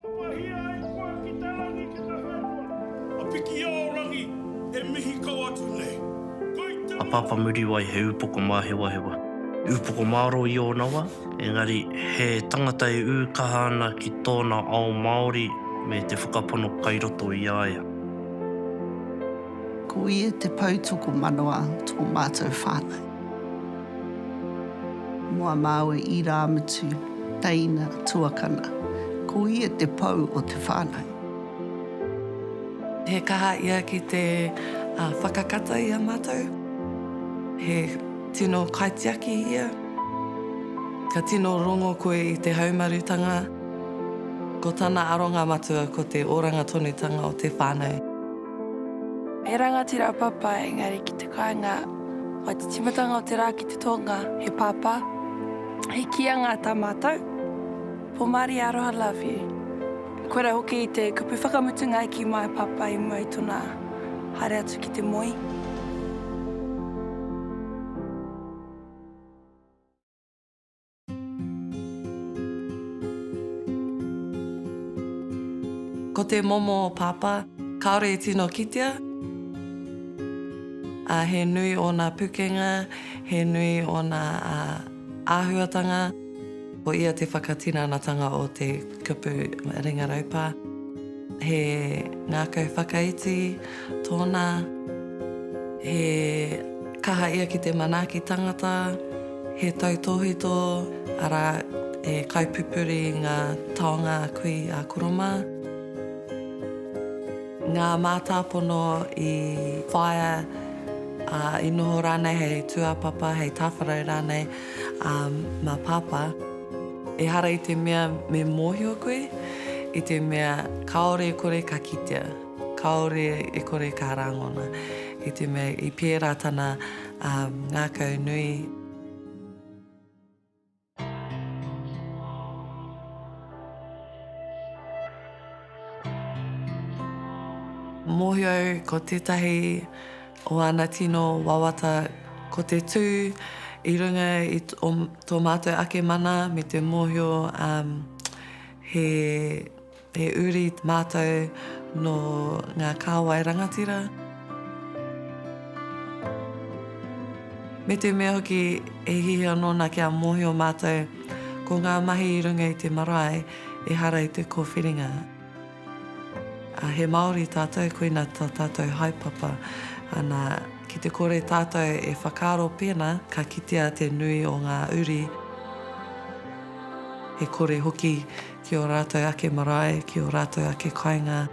Papahia ai koe ki te rangi ki te haetuara. A Pikiao rangi, e mihi kau atu nei. Kai te A Papa Muriwai he upoko māhewahewa. Upoko mārō i ōna wā, engari he tangata e ū kaha ana ki tōna ao Māori me te whakapono kai roto i a ia. Ko ia te poutokomanawa tō mātou whānau. Moa māu e Irāmutu, teina tuakana. Ko ia te pou o te whānau. He kaha ia ki te whakakata i a mātou. He tino kaitiaki ia. Ka tino rongo koe i te haumarutanga. Ko tana aronga matua ko te oranga tonutanga o te whānau. He rangatira papa engari ki te kāinga whai te timatanga o te rā ki te tonga he pāpā he kia ngā tā mātou Pomari aroha love you Koe ra hoki i te kupu whakamutunga i ki my pāpā i mua i tona haere atu ki te moe. Ko te momo o Pāpā, kāore i tino kitea, ā, he nui ōna pukenga, he nui ōna āhuatanga, ko ia te whakatinanatanga o te kupu ringa raupā. He ngākau whakaiti. Tōna, he kaha ia ki te manaaki tangata, he tautōhito, arā, e kaipupuri i ngā taonga a kui a koro mā. Ngā mātāpono i whāia, ā, i noho rānei hei tūāpapa, hei tāwharau rānei, ā, mā Pāpā. Ehara i te mea me mōhio koe, i te mea kāore e kore ka kitea. Kāore e kore ka rāngona i te mea i pērā tana ngākau nui. Mōhio au ko tētahi o āna tino wawata ko te tū i runga i tō mātou ake mana me te mōhio he He uri mātou nō ngā kāwai rangatira. Me te mea hoki e hihi anō ana kia mōhio mātou ko ngā mahi i runga i te marae ehara i te kōwhiringa. Ā, he Māori tātou, koina tā tātou haepapa. Ana, ki te kore tātou e whakaaro pēnā ka kitea te nui o ngā uri, e kore hoki Ki ō rātou ake marae, ki ō rātou ake kāinga.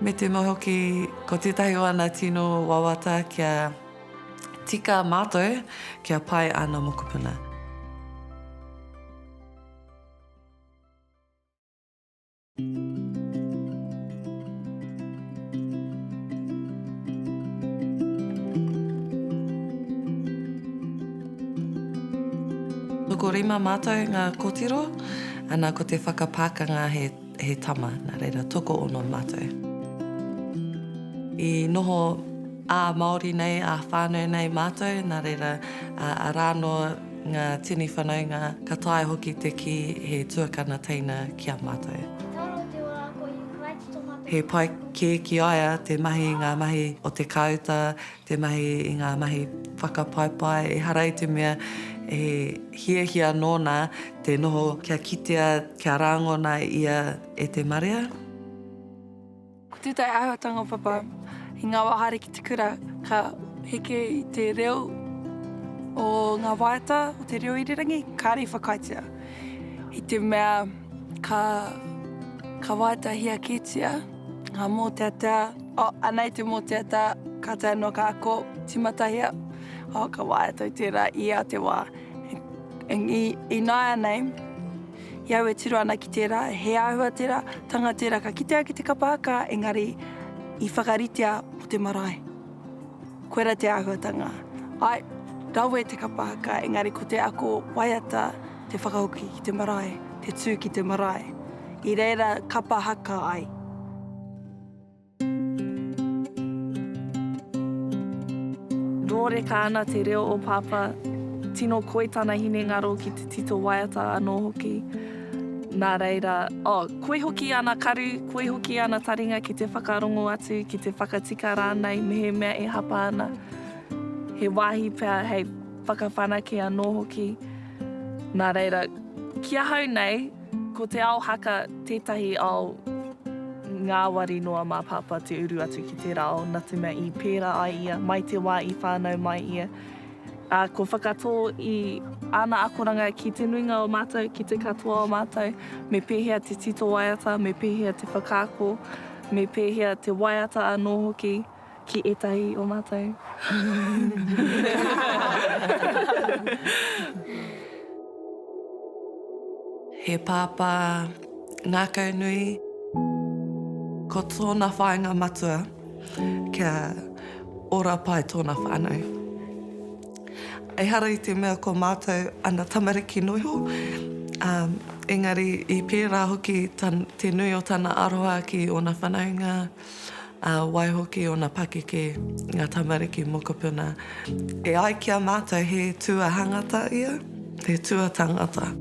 Me tēnā hoki, ko tētahi o ana tino wawata kia tika mātou kia pai āna mokopuna. Tokorima mātou ngā kotiro, ana ko te whakapākanga he he tama, nā reira toko ono mātou. I noho ā-Māori nei, ā-whānau nei mātou, nā reira, arā noa, Ngā tini whanaunga, ka taea hoki te kī he tuakana teina ki a mātou. He toro te ora ako i Ukraine tō mātou. He pai kē ki a ia te mahi i ngā mahi o te kāuta, te mahi i ngā mahi whakapaepae, ehara i te mea he hiahia nōna te noho kia kitea, kia rāngona ia e te marea. Ko tētahi āhuatanga papa i ngā wā haere ki te kura, ka heke i te reo o ngā waiata o te reo irirangi, kāre i whakaaetia, i te mea ka, ka waiatahia kētia ngā mōteatea, oh, anei te mōteatea, ka tae noa ka ako, tīmatahia, oh, ka waiata i tērā, i ā te wā. I, i, ināianei. I au e tiro ana ki tērā, he āhua tērā, tanga tērā ka kitea ki te kapa aka, engari i whakaritea mō te marae. Koirā te āhuatanga. Āe, rawe te kapa aka, engari ko te ako waiata te whakahoki ki te marae, te tū ki te marae. I reira kapa haka ai. Rōreka ana te reo o Papa, tino koi tana hinengaro ki te tito waiata anō hoki. Nā reira, oh, koi hoki ana karu, koi hoki ana taringa ki te whakarongo atu, ki te whakatika rānei mehemea e hapa ana. He wāhi pea hei whakawhanake anō hoki. Nā reira, ki ahau nei, Ko te ao haka tētahi ao ngāwari noa mā Pāpā te uru atu ki tērā ao nā te mea i pērā ai ia mai te wā i whānau mai ia, ā, kua whakatō i āna akoranga ki te nuinga o mātou, ki te katoa o mātou, me pēhea te tito waiata, me pēhea te whakaako, me pēhea te waiata anō hoki. Ki etahi o matou. He pāpā ngākau nui. Ko tōna whāinga matua kia ora pai tōna whānau. Ehara i te mea ko mātou ana tamariki noiho, ā, engari i pērā hoki te nui o tana aroha ki ōna whanaunga. ā, waihoki ōna pakeke, ngā tamariki mokopuna. E ai ki a mātou he tuahangata ia, he tuatangata.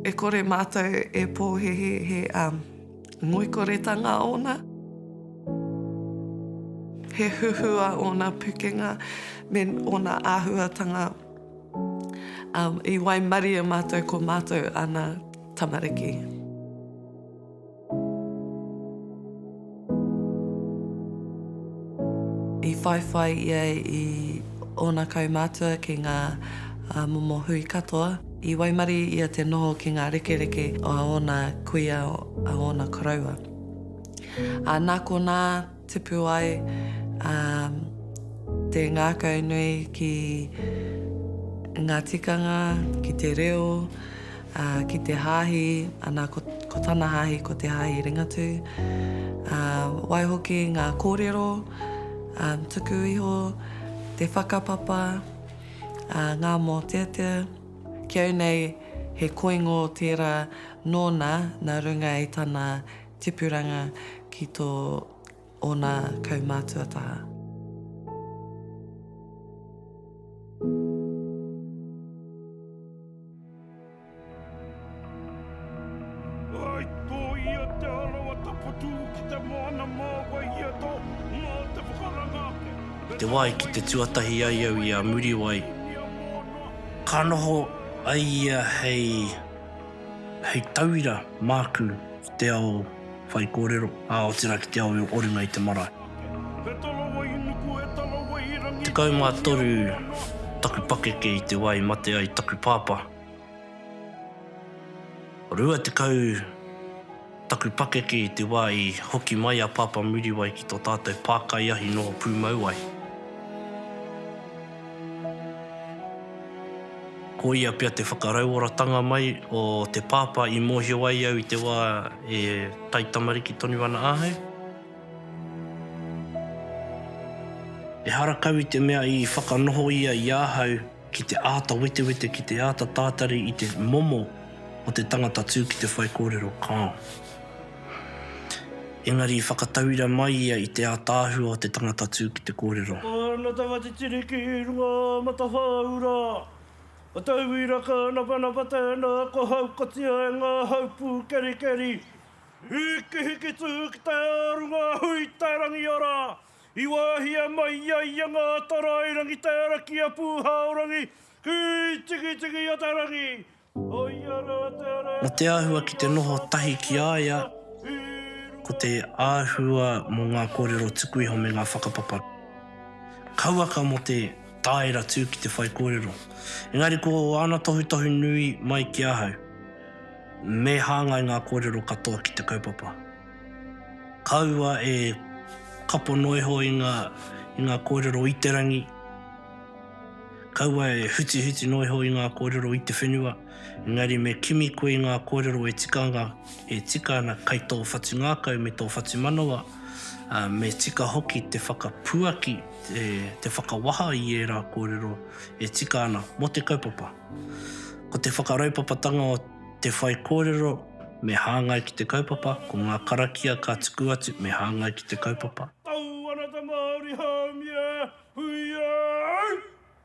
E kore mātou e pōhēhē he ngoikoretanga ōna, he huhua ōna pukenga me ōna āhuatanga, ā, i waimarie mātou ko mātou ana. tamariki. I whaiwhai ia i ōna kaumātua ki ngā momo hui katoa. I waimarie ia te noho ki ngā rekereke a ōna kuia, a ōna koroua. Nā konā, Tipu ai te ngākau nui ki ngā tikanga, ki te reo, ki te hāhi, ana ko tana hāhi ko Te Haahi Ringatū. Waihoki ngā kōrero tuku iho, te whakapapa, ngā mōteatea. Ki au nei he koingo tērā nōna nā runga i tana Tipuranga ki tō ōna kaumātua taha. te wai ki te tuatahi ai au i a Muriwai, ka noho ai ia hei. Hei tauira māku ki te ao whaikōrero, ā, otirā ki te ao i o runga i te marae. Tekau mā toru taku pakeke i te wā i mate ai taku pāpā. Rua tekau. Taku pakeke i te wā i hoki mai a Pāpā Muriwai ki tō tātou pākaiahi noho pūmauwai. Ko ia pea te whakarauoratanga mai o te pāpā i mōhio ai au i te wā e taitamariki tonu ana ahau. Ehara kau i te mea i whakanoho ia i ahau Ki te āta wetewete, ki te āta tātari i te momo o te tangata tū ki te whaikōrero, kāo. Engari i whakatauira mai ia i te ātaahua o te tangata tū ki te kōrero. Ka ana tanga te tiri ki runga Matahāura. Ka tauira ka napanapa tēnā kua haukatia e ngā hau pūkerikeri. Hikihiki tū ki te ā runga hui te rangiora. I wāhia mai i a ia ngā tarāerangi tēra ki a Pūhaorangi, ki Tikitiki-a-te-rangi, ko ia rā te reo Nō te āhua ki te noho tahi ki a ia, ko te āhua mō ngā kōrero tuku iho me ngā whakapapa kauaka mō te tāera tū ki te whaikōrero. Engari ko āna tohutohu nui mai ki ahau, me hāngai ngā kōrero katoa ki te kaupapa. Kaua e kapo noa iho i ngā, i ngā kōrero i te rangi. Kaua e hutihuti noa iho i ngā kōrero i te whenua. Engari me kimi koe i ngā kōrero e tikanga, e tika ana kai tō whatungākau me tō whatumanawa, ā, me tika hoki te whakapuaki, te, te whakawaha i ērā kōrero e tika ana mō te kaupapa. Ko te whakaraupapatanga o. Te whaikōrero me hāngai ki te kaupapa, ko ngā karakia ka tuku atu me hāngai ki te kaupapa. Tau ana te Māori haumia, huia au!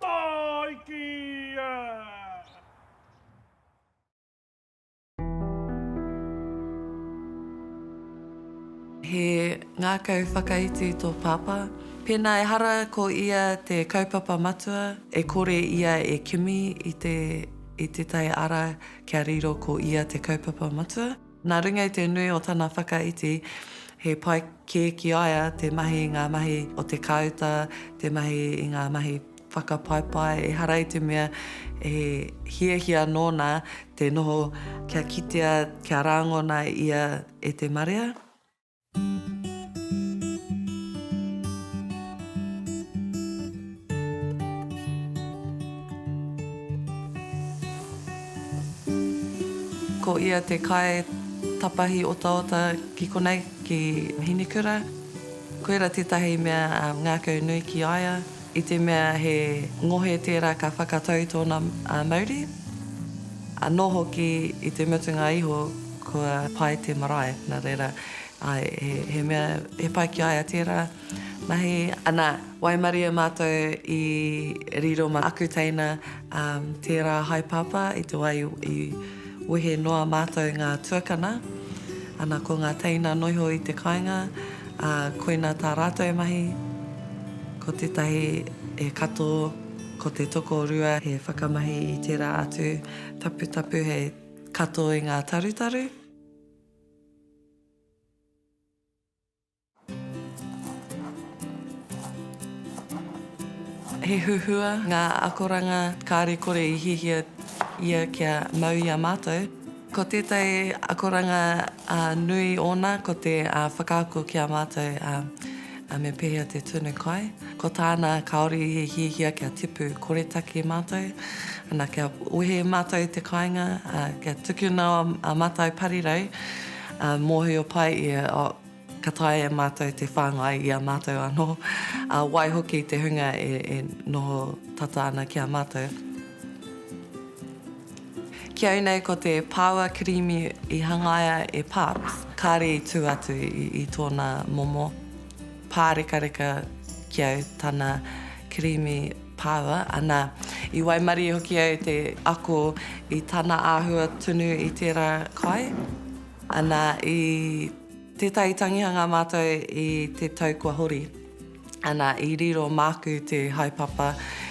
Tāikia! He ngākau whakaiti tō Pāpā. Pēnā ehara ko ia te kaupapa matua, e kore ia e kimi i te I te tai ara kia riro ko ia te kaupapa matua. Nā runga i te nui o tana whakaiti, he pai kē ki a ia te mahi i ngā mahi o te kāuta, te mahi i ngā mahi whakapaepae, ehara i te mea he hiahia nōna te noho kia kitea, kia rāngona ia e te marea. Ko ia te kai tapahi otaota ki konei, ki Hinekura. Koira tētahi mea ngākau nui ki a ia. I te mea he ngohe tērā ka whakatau tōna mauri, anō hoki i te mutunga iho kua pai te marae, nā reira, āe, he mea he pai ki a ia tērā mahi. Anā, waimarie mātou i riro mā aku teina tērā haepāpā i te wā i wehe noa mātou ngā tuakana, anā, ko ngā teina noho i te kāinga, Ā, koinā tā rātou e mahi, ko tētahi he kato, ko te tokorua he whakamahi i tērā atu taputapu hei kato i ngā tarutaru. He huhua ngā akoranga kāre kore i hihia ia kia mau i a mātou. Ko tētahi akoranga nui ōna ko te whakaako ki a mātou me pēhea te tunu kai. Ko tāna kāore i hiahia kia tipu koretake mātou, ana kia wehe mātou i te kāinga, kia tukuna a Matai Parirau, mōhio pai ia, Ka taea e mātou te whāngai i a mātou anō, ā, waihoki te hunga e, e noho tata ana ki a mātou. Ki au nei ko te pāua kirīmi i hangaia e Palms, kāre i tū atu i, i tōna momo pārekareka ki au tana kirīmi pāua, ana, i waimarie hoki au te ako i tana āhua tunu i tērā kai, ana, i. Tētahi tangihanga mātou i te tau kua hori. Ana, i riro māku te haepapa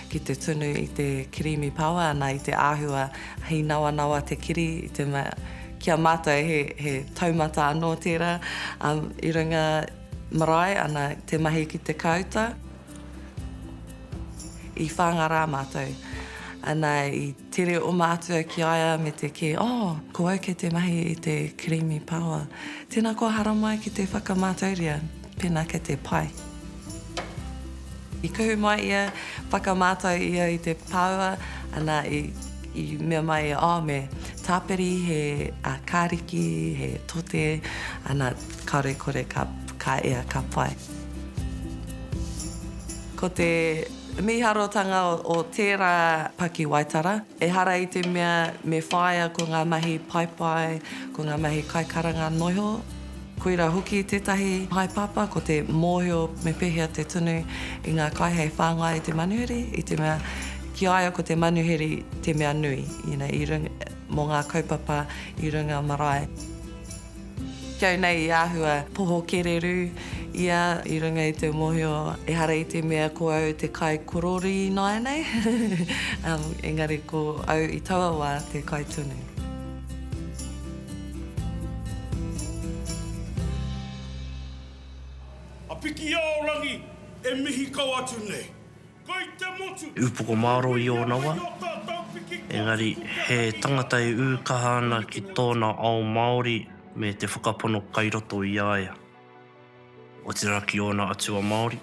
ki te tunu i te kirīmi paoa, ana, i te āhua hei nawanawa te kiri, i te mea, ki a mātou he, he taumata anō tērā, um, i runga marae, ana, te mahi ki te kāuta. I whāngarā mātou, ana, i. Tere o mātua ki a ia me te kī, Oh, ko au kei te mahi i te Creamy Power. Tēnā kua haramai ki te whakamātauria, pēnā kei te pai. I kuhu mai ia, whakamātau ia i te power, ana i i mea mai ia, Oh, me tāpiri he kāriki, he tote, ana kāore kore ka ka ea ka pai. Ko te. Miharotanga o tērā pakiwaitara, ehara i te mea me whāia ko ngā mahi paepae, ko ngā mahi kaikaranga noiho, koirā hoki tētahi haepapa ko te mōhio me pēhea te tunu i ngā kai hei whāngai i te manuhiri, i te mea ki a ia ko te manuhiri te mea nui, you know, i runga, mō ngā kaupapa i runga marae. Kau nei i āhua poho kererū ia i runga i te mohio ehara i te mea ko au te kai kororī nāianei, engari ko au i taua wā te kai tonu. A Pikiaorangi, e mihi kau atu nei. Kei te motu! Upoko mārō i ōna wā, engari he tangata e ū kaha ana ki tōna ao Māori me te whakapono kai roto i a ia. Otirā ki ōna atua Māori,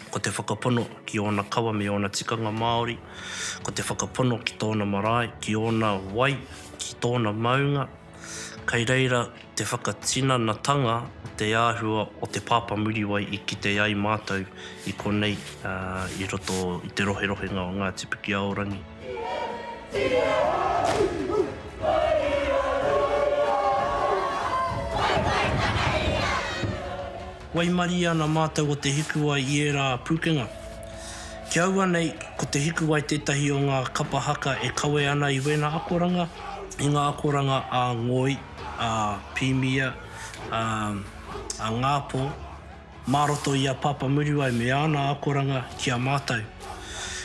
ko te whakapono ki ōna kawa me ōna tikanga Māori, ko te whakapono ki tōna marae, ki ōna wai, ki tōna maunga, Kai reira te whakatinanatanga o te āhua o Te Pāpā Muriwai i kite ai mātou i konei i roto i te roherohenga o Ngāti Pikiaorangi. Waimarie ana mātou o te hikuwai i ērā pūkenga. Ki aua nei, ko te hikuwai tētahi o ngā kapa haka e kawe ana i wēnā akoranga, i ngā akoranga a Ngoi, a Pīmia, a, a Ngāpō, mā roto i a Pāpā Muriwai me āna akoranga ki a mātou.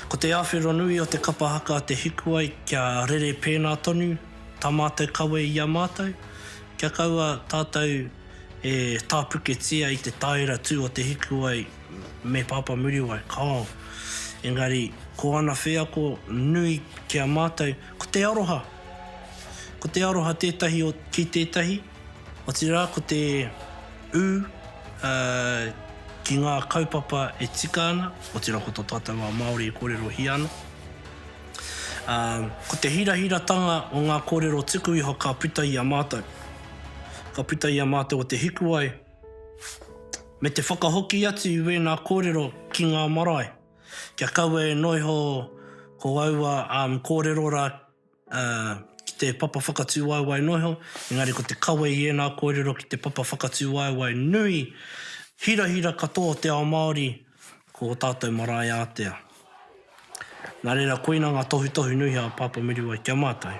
Ko te awhero nui o te kapa haka te hikuwai kia rere pēnā tonu tā mātou kawe i a mātou, kia kaua tātou, E tāpuketia i te tāera tū o Te Hikuwai me Pāpā Muriwai, kāo. Engari, ko ana wheako nui ki a mātou, ko te aroha. Ko te aroha tētahi o, ki tētahi, otirā ko te ū, ā, ki ngā kaupapa e tika ana, otirā ko tō tātou wā Māori e kōrerohia ana. Ā, ko te hirahiratanga o ngā kōrero tuku iho ka puta i a mātou. Ka puta i a mātou o Te Hikuwai, me te whakahoki atu i wēnā kōrero ki ngā marae, kia kaua e noho iho ko aua kōrero rā ki te papa whakatūwaewae noa iho, engari ko te kawe i ēnā kōrero ki te papa whakatūwaewae nui, hirahira katoa o te ao Māori ko ō tātou marae ātea. Nā reira, koina ngā tohutohu nui a Pāpā Muriwai ki a mātou.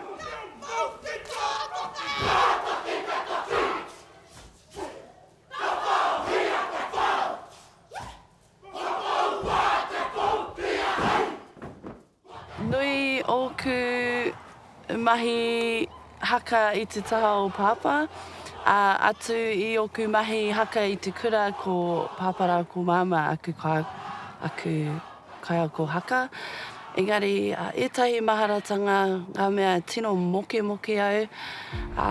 Nui ōku Mahi haka i te taha o Pāpā, ā, atu i ōku mahi haka i te kura ko Pāpā rā ko Māmā aku kā, aku kaiako haka. Engari, ētahi maharatanga, ngā mea tino mokemoke au, ā,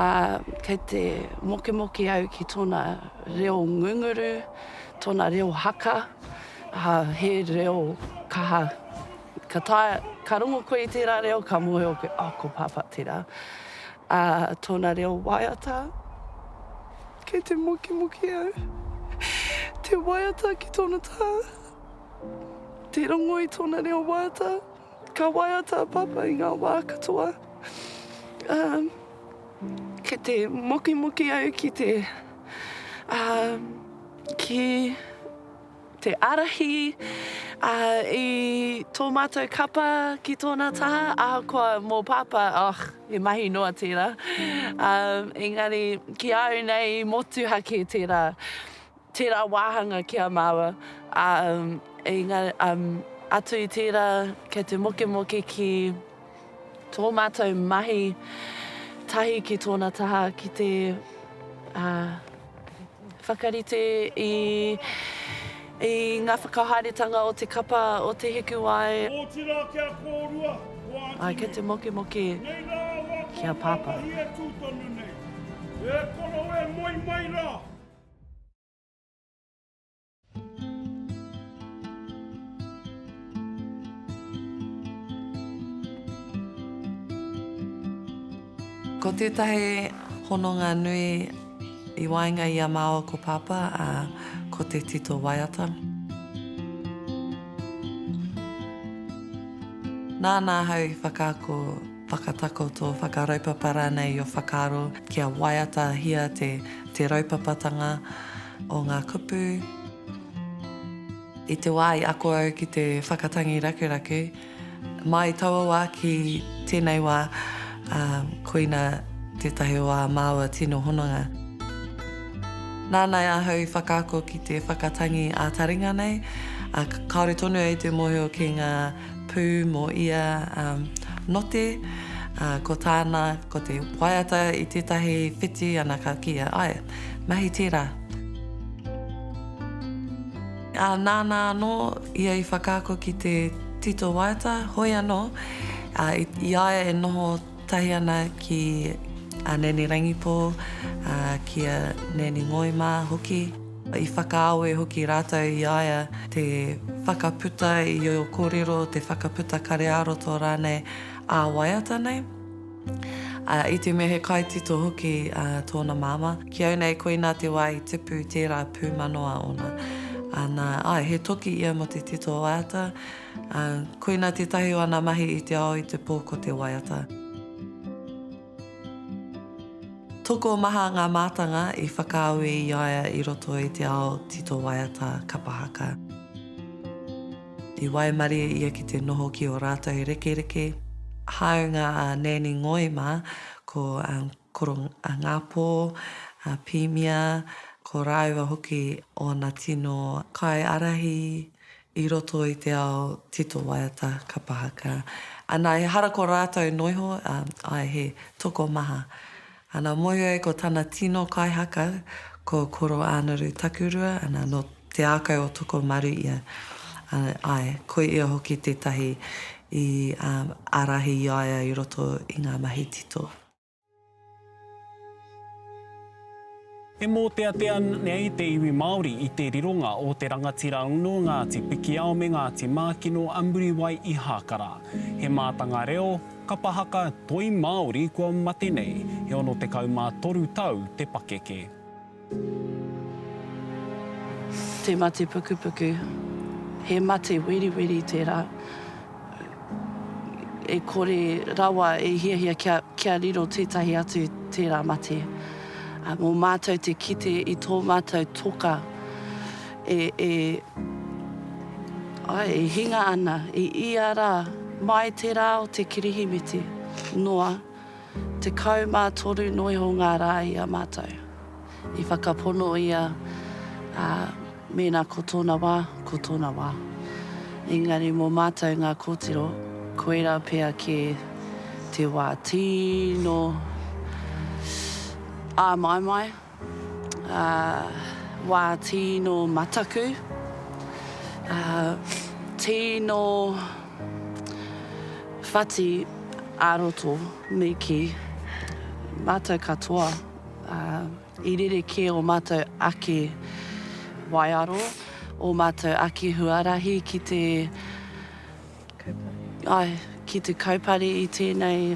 kei te mokemoke au ki tōna reo ngunguru, tōna reo haka, ā, he reo kaha. Ka taea, ka rongo koe i tērā reo, ka mōhio koe, oh, ko Pāpā tērā. Ā, tōna reo waiata, kei te mukimukī au. Te waiata ki tōna tā, te rongo i tōna reo waiata. Ka waiata a Pāpā i ngā wā katoa. Ā, kei te mukimukī au ki te, ā, ki. te ārahi ā, i tō mātou kapa ki tōna taha, ahakoa mō Pāpā, oh, he mahi noa tērā. Ā, engari, ki a au nei, i motuhake tērā, tērā wāhanga ki a māua. Ā, engari, ā, atu i tērā, kei te mokemoke ki. Tō mātou mahi tahi ki tōna taha ki te whakarite i ngā whakahaeretanga o te kapa o Te Hikuwai. Otirā kia kōrua ko Aunty nei. Kei te mokemoke ki a Pāpā. Nei rā wā ko Aunty nei e tū tonu nei. E koro e moe mai rā. Ko tētahi hononga nui i waenga i a māua ko Pāpā, ā, ko te tito waiata. Nāna ahau i whakaako. whakatakoto, whakaraupapa rānei i ō whakaaro kia waiatahia te te raupapatanga o ngā kupu. I te wā i ako au ki te whakatangi rakuraku, mai taua wā ki tēnei wā, ā, koina tētahi o ā māua tino hononga. Nānai ahau i whakaako ki te whakatangi ā-taringa nei, ā, kāore tonu au i te mōhio ki ngā. pū mō ia note, ā, ko tāna, ko te waiata i tētahi whiti ana ka kīia, āe, mahi tērā. Ā, nāna anō ia i whakaako ki te tito waiata, hoi anō, ā, i, i a ia e noho tahi ana ki a Nanny Rangipō, ā, ki a Nanny Ngoi mā hoki. I whakaawe hoki rātou i a ia te whakaputa i ō kōrero, te whakaputa kareāroto rānei ā-waiata nei. Ā, i te mea he kaitito hoki tōna māmā, ki au nei koinā te wā i tipu i tērā pūmanawa ōna. Ā, nā, āe, he toki ia mō te tito waiata, ā, koinā tētahi o ana mahi i te ao i te pō ko te waiata. Tokomaha ngā mātanga i whakaawe i a ia i roto i te ao tito waiata kapa haka. I waimarie ia ki te noho ki ō rātou rekereke, hāunga a Nanny Ngoi mā, ko Koro Ngāpō, a Pīmia, ko rāua hoki ōna tino kaiārahi i roto i te ao tito waiata kapa haka ana ehara ko ratou noiho ae he tokomaha ana mohi ai ko tana tino kai haka ko Koroānuru Takurua ana no te akau o Tokomaru ia ae ko ia hoki tetahi i arahi iaia i roto i nga mahi tito. E mōteatea nei te iwi Māori i te rironga o te rangatira uno Ngāti Pikiao me Ngāti Mākino a Muriwai i Hākara. He mātanga reo, kapa haka, toi Māori kua mate nei, he 63 tau te pakeke. Te mate pukupuku, he mate weriweri tērā e kore rawa e hiahia kia, kia riro tētahi atu tērā mate. Ā, mō mātou te kite i tō mātou toka e, e, ai, e hinga ana i ia rā mai te rā o te Kirihimete noa Tekau mā toru noiho ngā rā i a mātou i whakapono ia, ā, mēnā ko tōna wā, ko tōna wā. Engari mō mātou ngā kōtiro, koirā pea kē te wā. Tino āmaimai. Wā tīno mataku, tīno whati ā-roto me kī, mātou katoa, i rerekē ō mātou ake waiaro, ō mātou ake huarahi ki te, ai, ki te kaupare i tēnei.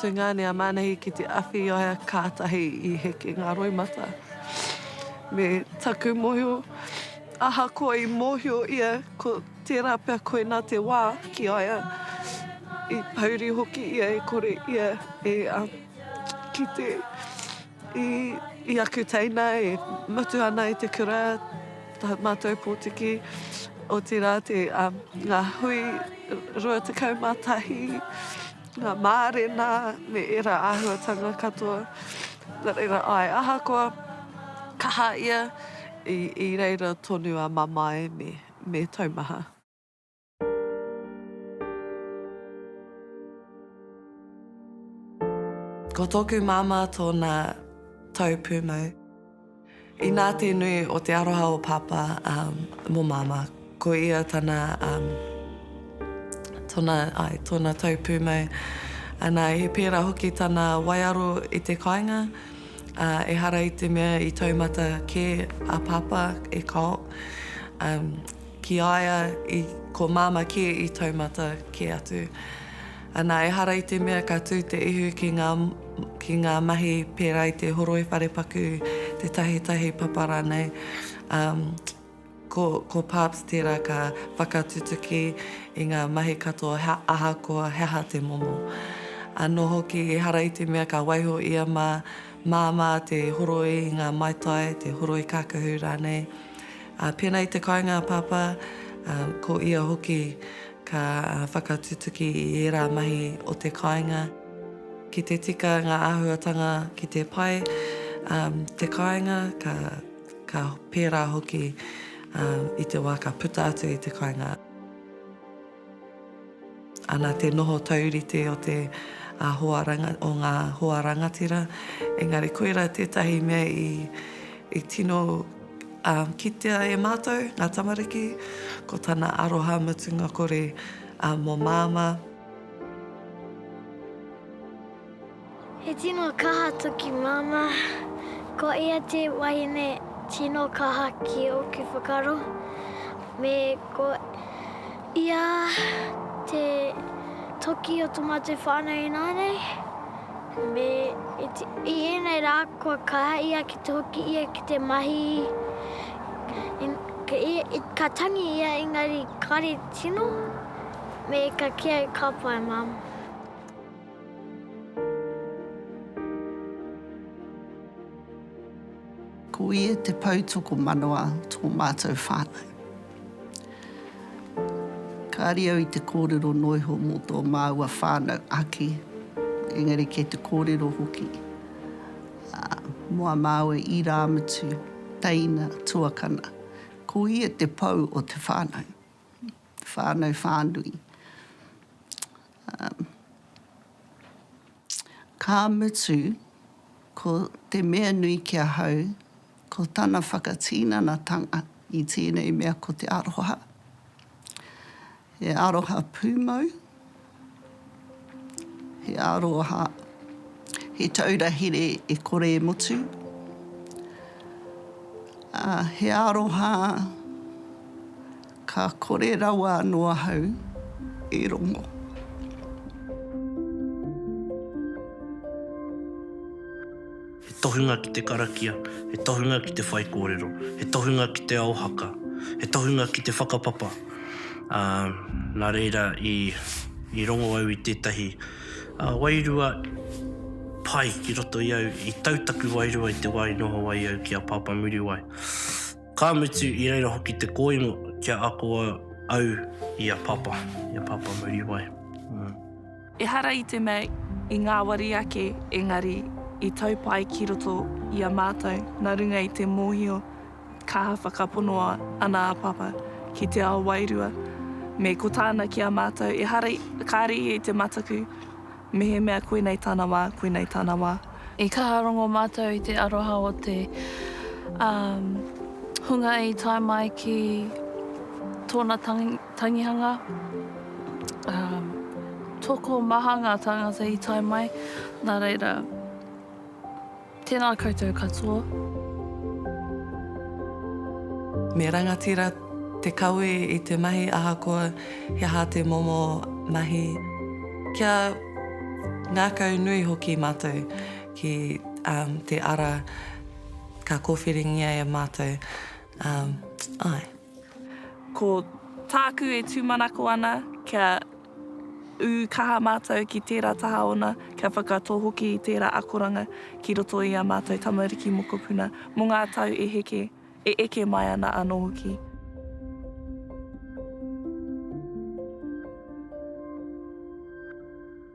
Tūnga nei a Manahi ki te awhiaia kātahi i heke ngā roimata. Me taku mōhio, ahakoa i mōhio ia ko tērā pea koinā te wā ki a ia, i pouri hoki ia e kore ia e kite i aku teina e mutu ana i te kura, tā mātou pōtiki, otirā ngā hui 21. Ngā mārena me ērā āhuatanga katoa. Nā reira, āe, ahakoa kaha ia, i, i reira tonu a Mamae me, me Taumaha. Ko tōku māmā tōna tau pūmau. Inā te nui o te aroha o Pāpā mō Māmā, ko ia tana, tona, āe, tōna tau pūmau. Anā, he pērā hoki tana waiaro i te kāinga, ā, ehara i te mea i taumata kē a Pāpā e kao, ā, ki a ia i, ko Māmā kē i taumata kē atu. Ana, ehara i te mea ka tū te ihu ki ngā, ki ngā mahi pērā i te horoi wharepaku, te tahitahi papa rānei. Um, ko, ko Parps tērā ka whakatutuki i ngā mahi katoa he, ahakoa he aha te momo. Anō hoki, ehara i te mea ka waiho ia mā, māmā te horoi i ngā maitai, te horoi kākahu rānei. Uh, pēnā i te kāinga a Pāpā, um, ko ia hoki Ka whakatutuki i ērā mahi o te kāinga ki te tika ngā āhuatanga ki te pai te kāinga, ka pērā hoki i te wā ka puta atu i te kāinga. Ana te noho taurite o te hoa, o ngā hoa rangatira, engari koirā tētahi mea i tino. Ā, kitea e Mātou, ngā tamariki, ko Tana aroha mutunga kore mō Māmā. He tino kaha toki Māmā. Ko ia te wahine tino kaha ki ōku whakaaro, me ko ia te toki o tō mātou whānau ināianei. Me i ēnei rā kua kaha ia ki te hoki ia ki te mahi, ka tangi ia engari kare tino, me ka kī ai ka pai mum. Ko ia te poutokomanawa tō mātou whānau. Kāre au i te kōrero noa iho mō tō māua whānau ake, engari kei te kōrero hoki mō a māua irāmutu, teina, tuakana. Ko ia te pou o te whānau, te whānau whānui. Ka mutu, ko te mea nui ki ahau, Ko tana whakatinanatanga i tēnei mea ko te aroha. He aroha pūmau, he aroha, he taura here e kore e mutu, ā, he aroha, Ka kore rawa anō ahau e rongo. He tohunga ki te karakia, he tohunga ki te whaikōrero, he tohunga ki te ao haka, he tohunga ki te whakapapa, ā, nā reira i rongo au i tētahi wairua pai ki roto i au, i tau taku wairua i te wā i noho ai au ki a Pāpā Muriwai. Ka mutu i reira hoki te kōingo kia ako au i a Papa, i a Papa Muriwai. Ehara i te mea i ngāwari ake engari i tau pai ki roto i a mātou nā runga i te mōhio kaha whakapono ana a Papa ki te ao wairua me ko tāna ki a mātou ehara kāre ia i te mataku Mehemea koinei tana wā, koinei tana wā. I kaha rongo mātou i te aroha o te hunga i tae mai ki tōna tangihanga. Tokomaha ngā tāngata i tae mai, nā reira. Tēnā koutou katoa. Me rangatira te kawe i te mahi ahakoa he aha te momo mahi. Kia ngākau nui hoki mātou ki te ara ka kōwhiringia e mātou. Āe. Ko tāku e tūmanako ana kia ū kaha mātou ki tērā taha ōna, kia whakatō hoki i tērā akoranga ki roto i ā mātou tamariki mokopuna mō ngā tau e heke, e eke mai ana anō hoki.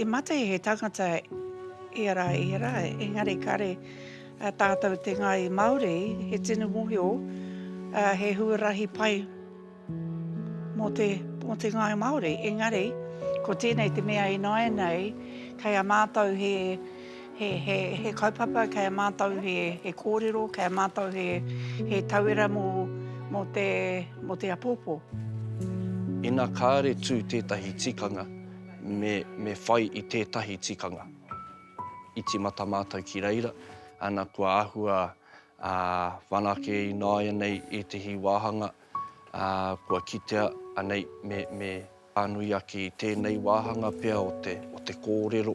I mate he tangata ia rā, ia rā, engari kāre tātou te ngāi Māori, he tino mōhio, he huarahi pai mō te, mō te ngāi Māori. Engari, ko tēnei te mea ināianei, kei a mātou he, He, he, he kaupapa kei a mātou he, he kōrero, kei a mātou he, he tauira mō, mō te, mō te apōpō. Ina kāre tū tētahi tikanga, me, me whai i tētahi tikanga. I timata mātou ki reira, ana kua āhua ā, whanake ināianei ētahi wāhanga, ā, kua kitea anei me, me. Ka nui ake i tēnei wāhanga pea o te, o te kōrero.